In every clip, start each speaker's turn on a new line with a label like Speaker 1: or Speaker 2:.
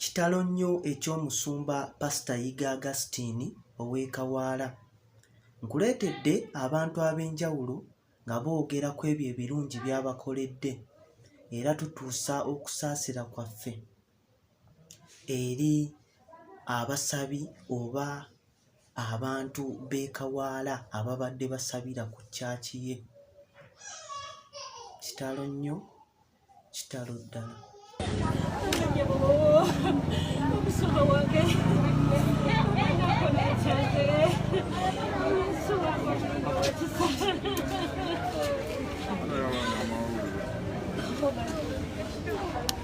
Speaker 1: Kitalo nnyo eky'omusumba Pasita Yiga Augustine ow'e Kawaala. Nkuleetedde abantu ab'enjawulo nga boogera ku ebyo ebirungi by'abakoledde era tutuusa okusaasira kwaffe. eri abasabi oba abantu b'e Kawaala ababadde basabira ku kyaki ye. Kitalo nnyo, kitalo ddala.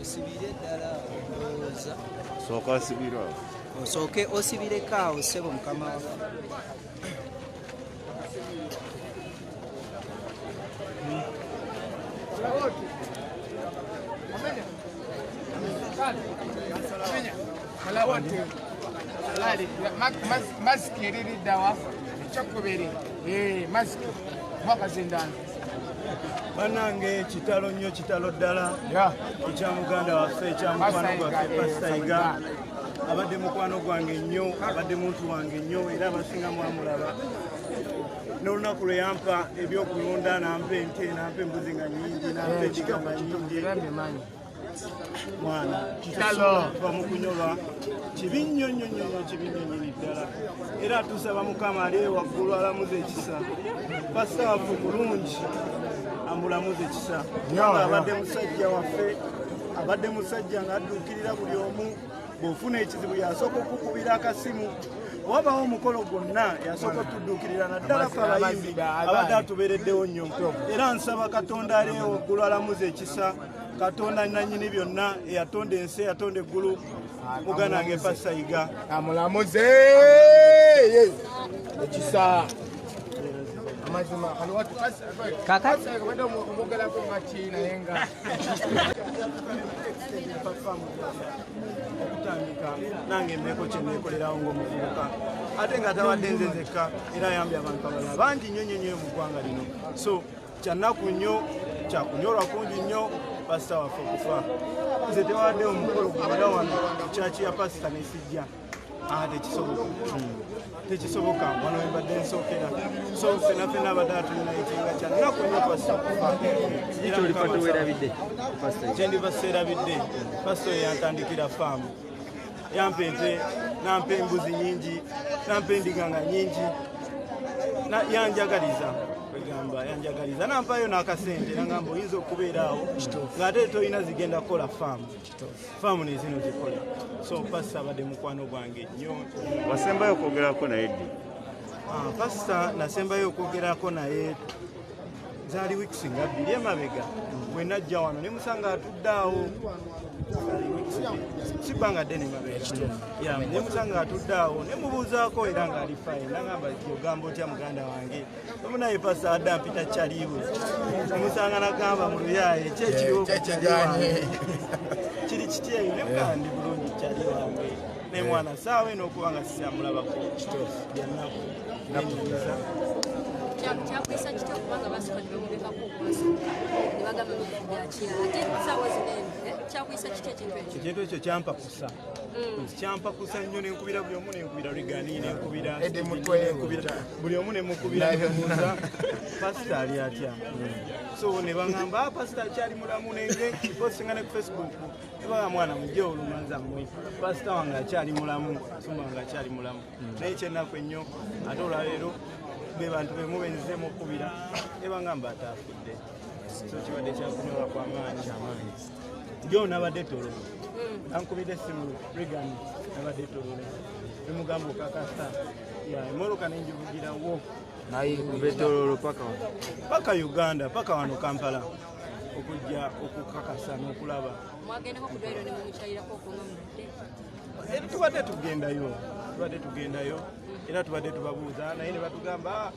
Speaker 2: osibire ddala ndowooza sooka osibire awo osooke
Speaker 3: osibireko awo ssebo mukama wafe
Speaker 4: maziki eririddawa ekyokubiri eh, maziki mwaka zindano
Speaker 2: banange kitalo nnyo kitalo ddala ekya muganda waffe ekya mukwano gwaffe pasitaiga abadde mukwano gwange nnyo abadde muntu wange nnyo era abasinga mwamulaba n'olunaku lwe yampa ebyokulunda nampa ente nampa embuzi nga nyingi nampa ekigambo nyingi mwana bamukunyolwa kibi nnyo nnyo nnyo nnyo kibi nnyo nyini ddala era tusaba mukama ali waggulu alamuza ekisa pasaafu bulungi amulamuza ekisa abadde musajja waffe abadde musajja ng'adduukirira buli omu bw'ofuna ekizibu yasooka okukubira akasimu wabawo omukolo gwonna yasooka otudduukirira naddala fe abayimbi abadde atubeereddewo nnyo era nsaba katonda aleewo ggulu alamuza ekisa katonda nanyini byonna eyatonda ensi eyatonda eggulu muganda wange pasayiga amulamuze
Speaker 4: ekisa okutandika
Speaker 2: nange embeeko kyeneekolerawo ngaomuvubuka ate nga tawadde nze nzekka era ayambye abantu abalala bangi nnyo nnyo nnyo mu ggwanga lino so Kyannaku nnyo kyakunyolwa kungi nnyo pasita waffe okufa. Nze tewadde omukolo gwabala wano kyaki ya pasita nesijja ah, tekisoboka tekisoboka wano webadde nsookera so fena fena abadde atulinaitinga kyannaku nnyo pasita okufa kyendiva seerabidde pasita oyo yantandikira faamu yampa ente nampa embuzi nyingi nampa endiganga nyingi yanjagaliza kwegamba yanjagaliza nampayo nakasente nagamba oyinza okubeeraawo ngaate tolina zigenda kukola faamu faamu nezino zikola so pasita abadde mukwano gwange nyo wasembayo
Speaker 5: okwogerako naye ddi ah, pasita
Speaker 2: nasembayo okwogerako naye zaali wiiki singa bbiri emabega bwe najja wano ne musanga atudde awo si bbanga ddene mabeerae musanga atudde awo ne mubuuzaako era ng'ali fine nagamba ogamba otya muganda wange omu naye pasa adda mpita kyaliiwe omusanga nagamba mu luyaaye kyekiriwo kiri kityeyo ne mugandi bulungi kyali wange ne mwana saawa eno okuba nga sikyamulabako kituufu byannaku nakunyumiza kyakwisa kitya kubanga basooka ne bamulekako okwasooka ne bagamba byakira ate
Speaker 6: saawa zino eno eh, kyakwisa kitya ekintu ekyo ekintu ekyo
Speaker 2: kyampakusa mm. kyampakusa nnyo nenkubira buli omu nenkubira rigani nenkubira buli omu nemukubira nemuuza pasita ali atya mm. so ne bangamba ah, pasita akyali mulamu nengekiposinga ne ku facebook Baba mwana mujja olumanza mmwe pasita wange akyali mulamu asumba wange akyali mulamu hmm. naye kyennaku ennyo ate olwaleero be bantu be mubenzizeemu okukubira ebangamba ataafudde so kibadde kyakunyola kwa maanyi jo nabadde tolo hmm. ankubidde essimu regan nabadde tolo emugamba okakasa emoloka nenjivugirawo naye
Speaker 5: kubetololo paka
Speaker 2: paka uganda paka wano kampala okujja okukakasa
Speaker 6: n'okulaba
Speaker 2: mwagendako
Speaker 6: ku dwairo ne mumukyalirako okunga mudde
Speaker 2: eh, tubadde tugendayo tubadde tugendayo era tubadde tubabuuza naye ne batugamba ah,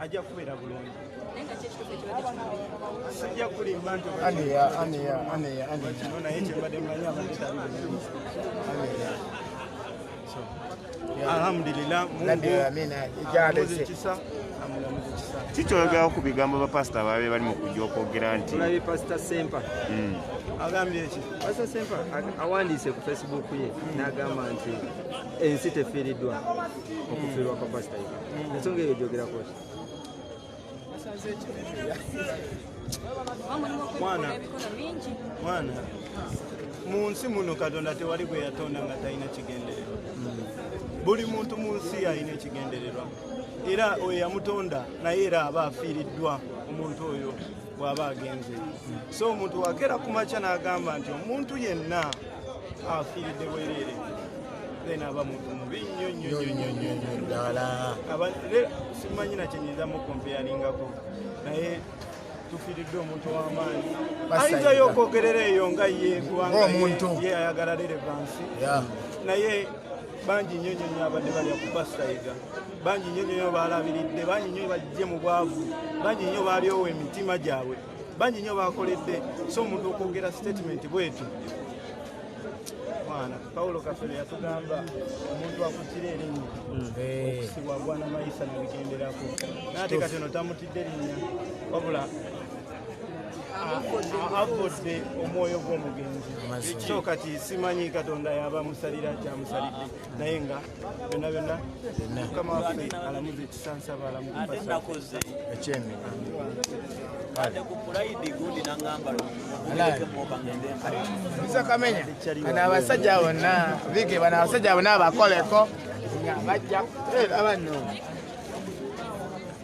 Speaker 2: ajja kubeera bulungi sijja kulimba nti naye kyebadde mmanyi abadde tabi alhamdulillah
Speaker 5: kikyoyogerako ku bigambo bapasita baabe bali mu kujja okwogera nti olabye pasita sempa
Speaker 7: hmm. agambye
Speaker 2: ki pasita sempa
Speaker 7: awandiise ku facebook ye n'agamba nti ensi tefiiriddwa okufiirwa kwa pasita ye hmm. ensonga eyo gyogerako ki
Speaker 2: mwana mwana mu nsi muno katonda tewali gwe yatonda nga talina kigendererwa buli muntu mu nsi alina ekigendererwa era oyo yamutonda naye era aba afiiriddwa omuntu oyo bw'aba agenze so omuntu wakeera ku makya n'agamba nti omuntu yenna afiiridde bwereere then aba muntu mubi nnyo nnyo nnyo nnyo nnyo ddala aba le- simanyi na kyenyinza mukompeyalingako naye tufiiridde omuntu w'amaanyi Basayira. ayinzayo okwogerera eyo nga ye kubanga ye- Ng'omuntu. ye ayagala lerevansi Yeah. naye bangi nnyo nnyo nnyo abadde balya ku basayiga bangi nnyo nnyo nnyo baalabiridde bangi nnyo bajje mu bwavu bangi nnyo baalyowa emitima gyabwe bangi nyo bakoledde so omuntu okwogera statement bwetyo mwana paulo kafere yatugamba omuntu akutira erinnya eh. okusibwa agwana mayisa nabigenderako naate kati ono tamutidde linnya wabula avodde omwoyo gw'omugenzi so kati simanyi katonda yaba musalira kyamusalidde naye nga byonna byonna mukama waffe alamuza ekisansaba
Speaker 4: alamuakoze ekyemi kamenya bano abasajja bonna bige bano abasajja bonna abakoleko bajja era bano